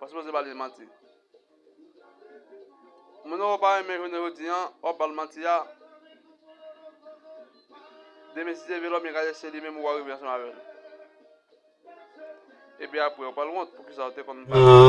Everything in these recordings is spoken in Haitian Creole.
Ou sipoze ba li manti. Moun ou pa renmen jounen jodi an, wap ba l manti a. Demen si se vye lòmi gade se li menm ou arive ansanm avè l. Epi apre ou pral wont pou kisa ou te konn ba li manti.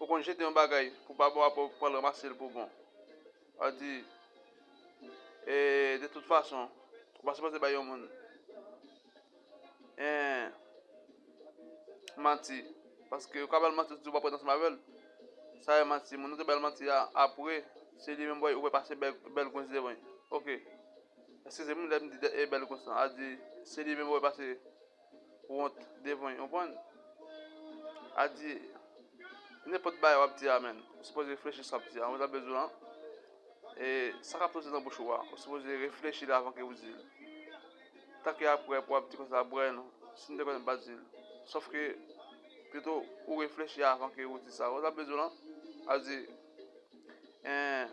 Ou konn jete yon bagay pou pa bon apre ou pral ranmase l pou bon. Sa vle di e de tout fason ou pa sipoze bay yon moun en manti paske ou ka bay l manti ou di ou pa pral ansanm avè l. Sa e manti. Moun ou te bay l manti a apre se li menm ou wè pase bèl gwens devan l. Ok. Eskize m lè m di bèl gwens lan. Sa vle di se li menm ou wè pase wont devan yo konprann al di nenpòt bagay wap di a menn ou sipoze reflechi sa wap di a ou ta vle di lan e sa kap soti nan bouch ou a ou sipoze reflechi li avan ke ou dil ta ke aprè pou wap di konsa aprè non si nou te konnen nou pa dil sof ke pito ou reflechi avan ke ou di sa ou ta vle di lan al di en.